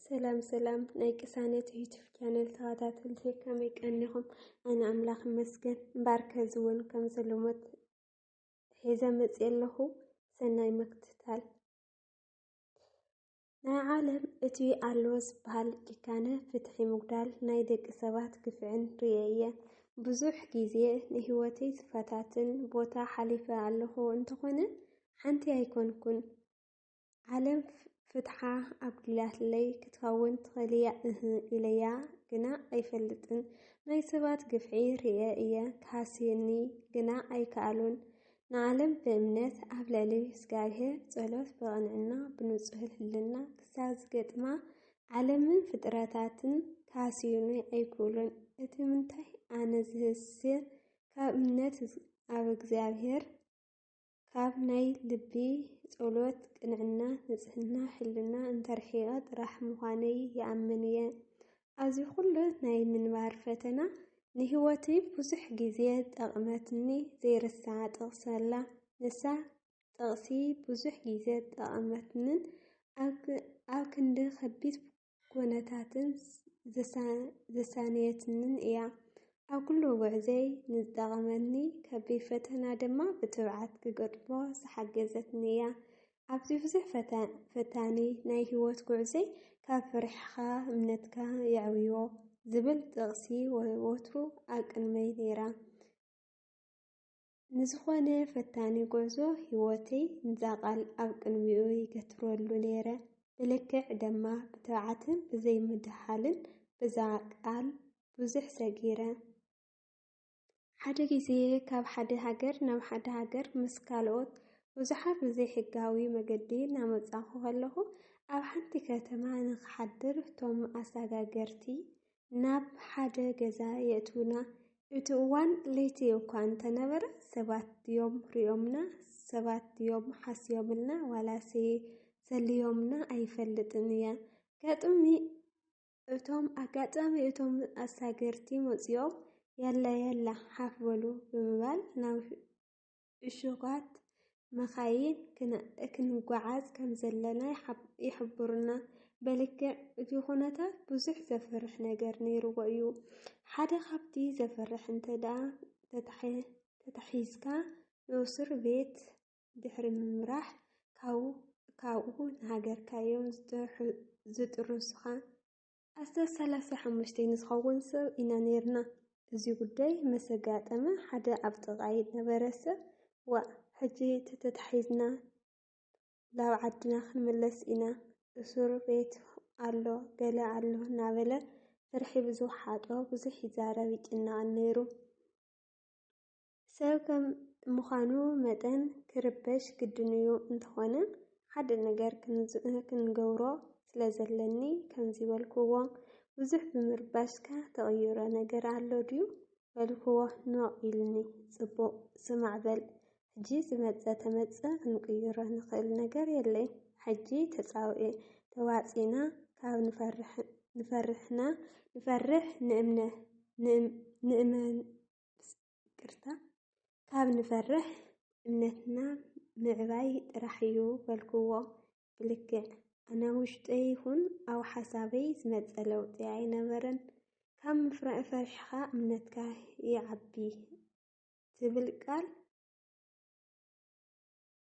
ሰላም ሰላም ናይ ቅሳነት ዩቱብ ቻነል ተኸታተልቲ ከመይ ቀኒኹም? ኣነ ኣምላኽ ይመስገን እምበኣር ከዚ እውን ከም ዘሎሞት ሒዘ መፅእ ኣለኹ ሰናይ ምክትታል። ናይ ዓለም እቲ ኣሎ ዝበሃል ጭካነ ፍትሒ ምጉዳል ናይ ደቂ ሰባት ግፍዕን ርየ እየ ብዙሕ ግዜ ንህይወተይ ዝፈታትን ቦታ ሓሊፈ ኣለኹ እንተኾነ ሓንቲ ኣይኮንኩን ዓለም ፍትሓ ኣጉዲላትለይ ክትኸውን ትኽእልያ እህ ኢለያ ግና ኣይፈልጥን። ናይ ሰባት ግፍዒ ርእየ እየ ክሃስየኒ ግና ኣይከኣሉን። ንዓለም ብእምነት ኣብ ልዕሊ እግዚኣብሔር ጸሎት ብቕንዕና ብንጹህ ህልና ክሳብ ዝገጥማ ዓለምን ፍጥረታትን ክሃስዩኒ ኣይክእሉን። እቲ ምንታይ ኣነ ዝህስየ ካብ እምነት ኣብ እግዚኣብሔር ካብ ናይ ልቢ ጸሎት ቅንዕና ንጽህና ሕልና እንተርሒቐ ጥራሕ ምዃነይ ይኣምን እየ። ኣብዚ ኩሉ ናይ ምንባር ፈተና ንህይወትይ ብዙሕ ግዜ ጠቕመትኒ ዘይርሳዕ ጥቕሲ ኣላ። ንሳ ጥቕሲ ብዙሕ ግዜ ጠቐመትንን ኣብ ክንዲ ከቢድ ኩነታትን ዘሳነየትንን እያ። ኣብ ኩሉ ጉዕዘይ ንዝጠቐመኒ ከቢድ ፈተና ድማ ብትብዓት ክገጥሞ ዝሓገዘትኒ እያ። ኣብዚ ብዙሕ ፈታኒ ናይ ህይወት ጉዕዘይ ካብ ፍርሕኻ እምነትካ የዕብዮ ዝብል ጥቕሲ ወትሩ ኣብ ቅድመይ ነይራ። ንዝኾነ ፈታኒ ጉዕዞ ህይወተይ ንዛ ቃል ኣብ ቅንዊኡ ይገትረሉ ነይረ። ብልክዕ ደማ ብትብዓትን ብዘይምድሃልን ብዛ ቃል ብዙሕ ሰጊረ። ሓደ ግዜ ካብ ሓደ ሃገር ናብ ሓደ ሃገር ምስ ካልኦት ብዙሓት ብዘይሕጋዊ መገዲ እናመጻኹ ከለኹ ኣብ ሓንቲ ከተማ ንክሓድር እቶም ኣሳጋገርቲ ናብ ሓደ ገዛ የእትውና። እቲ እዋን ለይቲ እኳ እንተ ነበረ፣ ሰባት ድዮም ርእዮምና፣ ሰባት ድዮም ሓስዮምልና ዋላሰ ሰልዮምና ኣይፈልጥን እየ። ኣጋጥሚ እቶም ኣጋጣሚ እቶም ኣሳገርቲ መጺኦም፣ የለ የለ ሓፍ በሉ ብምባል ናብ እሹጋት መኻይን ክንጓዓዝ ከም ዘለና ይሕብሩና። በልክዕ እቲ ኩነታት ብዙሕ ዘፍርሕ ነገር ነይርዎ እዩ። ሓደ ካብቲ ዘፍርሕ እንተደኣ ተታሒዝካ ንእሱር ቤት ድሕሪ ምምራሕ ካብኡ ንሃገርካ እዮም ዝጥርሱኻ። ኣስታት ሰላሳ ሓሙሽተ ንዝኸውን ሰብ ኢና ነይርና። እዚ ጉዳይ ምስ ኣጋጠመ ሓደ ኣብ ጥቓይ ዝነበረ ሰብ፣ ዋእ ሕጂ ተተታሒዝና ናብ ዓድና ክንምለስ ኢና፣ እሱር ቤት ኣሎ፣ ገለ ኣሎ እናበለ ፍርሒ ብዝውሓጦ ብዙሕ ይዛረብ ይጭነቕን ነይሩ። ሰብ ከም ምዃኑ መጠን ክርበሽ ግድን'ዩ፣ እንተኾነ ሓደ ነገር ክንገብሮ ስለ ዘለኒ ከምዚ በልክዎ። ብዙሕ ብምርባሽካ ተቕይሮ ነገር ኣሎ ድዩ? በልክዎ ኖእ ኢሉኒ። ጽቡቕ፣ ስማዕ በል ሕጂ ዝመጸ ተመጸ ክንቅይሮ ንኽእል ነገር የለይ። ሕጂ ተጻውኤ ተዋጺእና ካብ ንፈርሕ ንእምነ ንእመን ይቅርታ ካብ ንፈርሕ እምነትና ምዕባይ ጥራሕ እዩ በልክዎ ብልክዕ ኣነ ውሽጠይ ይኹን ኣብ ሓሳበይ ዝመፀ ለውጢ ኣይነበረን ካብ ምፍራእ ፈሪሕኻ እምነትካ ይዓቢ ትብል ቃል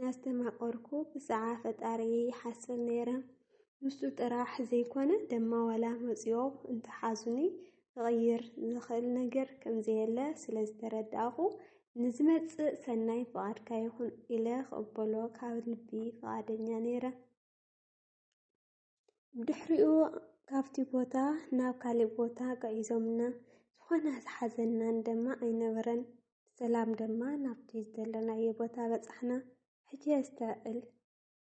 ናስተማቀርኩ ብጻዓ ፈጣሪየይ ይሓስብ ነይረ ንሱ ጥራሕ ዘይኮነ ደማ ዋላ መጽዮ እንተሓዙኒ ክቕይር ዝኽእል ነገር ከምዘየለ ስለ ዝተረዳእኹ ንዝመጽእ ሰናይ ፍቓድካ ይኹን ኢለ ክቕበሎ ካብ ልቢ ፍቓደኛ ነይረ። ድሕሪኡ ካብቲ ቦታ ናብ ካልእ ቦታ ቀዒዞምና ዝኾነ ዝሓዘናን ደማ ኣይነበረን ሰላም ደማ ናብቲ ዘለናዮ ቦታ በጻሕና ሕጂ የስተዕል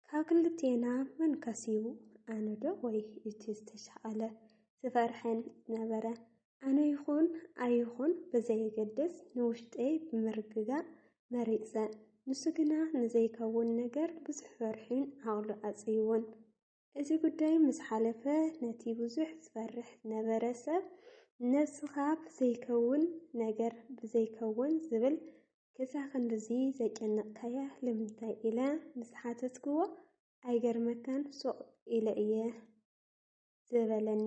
ካብ ክልቴና መን ከሲቡ ኣነዶ ወይ እቲ ዝተሻቐለ ዝፈርሐን ነበረ ኣነ ይኹን ኣይኹን ብዘየገድስ ንውሽጠይ ብምርግጋእ መሪጸ። ንሱ ግና ንዘይከውን ነገር ብዙሕ ፈርሑን ዓቕሉ ኣጽይዎን። እዚ ጉዳይ ምስ ሓለፈ ነቲ ብዙሕ ዝፈርሕ ዝነበረ ሰብ ነብስኻ ብዘይከውን ነገር ብዘይከውን ዝብል ክሳብ ክንድዚ ዘጨነቕካያ ልምንታይ ኢለ ምስ ሓተትክዎ ኣይገርመካን ሱቕ ኢለ እየ። ዝበለኒ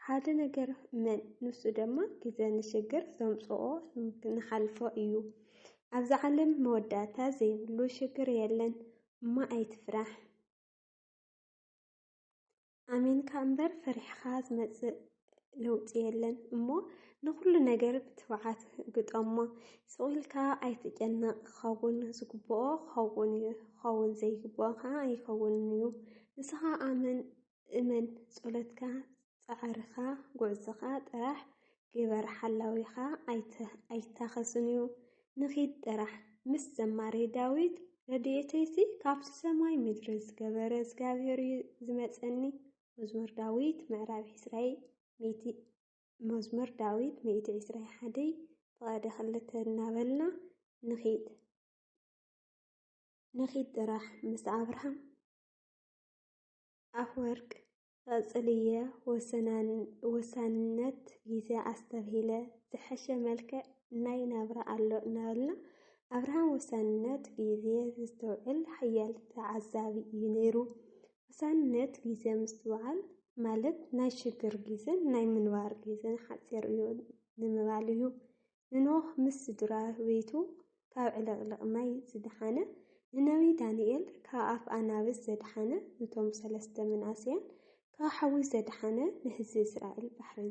ሓደ ነገር እመን፣ ንሱ ድማ ግዘ ንሽግር ዘምፅኦ ንሓልፎ እዩ። ኣብዚ ዓለም መወዳእታ ዘይብሉ ሽግር የለን እሞ ኣይትፍራሕ። ኣሚንካ እምበር ፈሪሕኻ ዝመፅእ ለውጢ የለን እሞ ንኹሉ ነገር ብትብዓት ግጠሞ። ስቑኢልካ ኣይትጨነቕ፣ ክኸውን ዝግብኦ ክኸውን እዩ፣ ክኸውን ዘይግብኦ ከዓ ኣይከውንን እዩ። ንስኻ ኣመን እመን ጸሎትካ ጻዕርካ ጉዕዞካ ጥራሕ ግበር ሓላዊካ ኣይታኸስንዩ ንኺድ ጥራሕ ምስ ዘማሪ ዳዊት ረድኤተይሲ ካብቲ ሰማይ ምድሪ ዝገበረ እግዚኣብሔርዩ ዝመጸኒ መዝሙር ዳዊት ምዕራፍ ዕስራይ ሚእቲ መዝሙር ዳዊት ሚእቲ ዕስራይ ሓደይ ፍቐደ ክልተ እናበልና ንኺድ ንኺድ ጥራሕ ምስ ኣብርሃም ኣፍወርቅ ቐፅልዬ ወሳንነት ጊዜ ኣስተብሂለ ዝሐሸ መልክዕ ናይ ናብራ ኣሎ እናበልና ኣብርሃም ወሳንነት ጊዜ ዘስተውዕል ሓያል ተዓዛቢ እዩ ነይሩ ወሳንነት ጊዜ ምስትውዓል ማለት ናይ ሽግር ጊዜን ናይ ምንባር ጊዜን ሓፂር እዩ ንምባል እዩ ንኖህ ምስ ስድራ ቤቱ ካብ ዕልቕልቕ ማይ ዝደሓነ፣ ንነብዪ ዳንኤል ካብ ኣፍ ኣናብስ ዘድሓነ፣ ኑቶም ሰለስተ መንእሰያን ካብ ሓዊ ዘድሓነ፣ ንህዝቢ እስራኤል ባሕሪ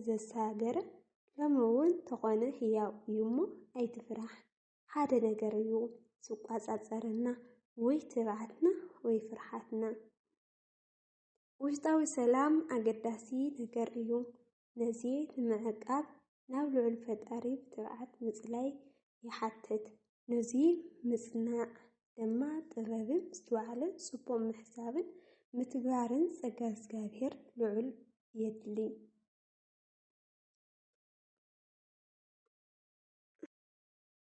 ዘሳገረ፣ ሎሚ እውን ተኾነ ህያው እዩ እሞ ኣይትፍራሕ፣ ሓደ ነገር እዩ ዝቋጻጸረና ወይ ትብዓትና ወይ ፍርሓትና። ውሽጣዊ ሰላም ኣገዳሲ ነገር እዩ። ነዚ ንምዕቃብ ናብ ልዑል ፈጣሪ ብትብዓት ምጽላይ ይሓትት። ነዚ ምጽናዕ ድማ ጥበብን ምስትውዓልን ጽቡቕ ምሕሳብን ምትግባርን ጸጋ እግዚኣብሔር ልዑል የድሊ።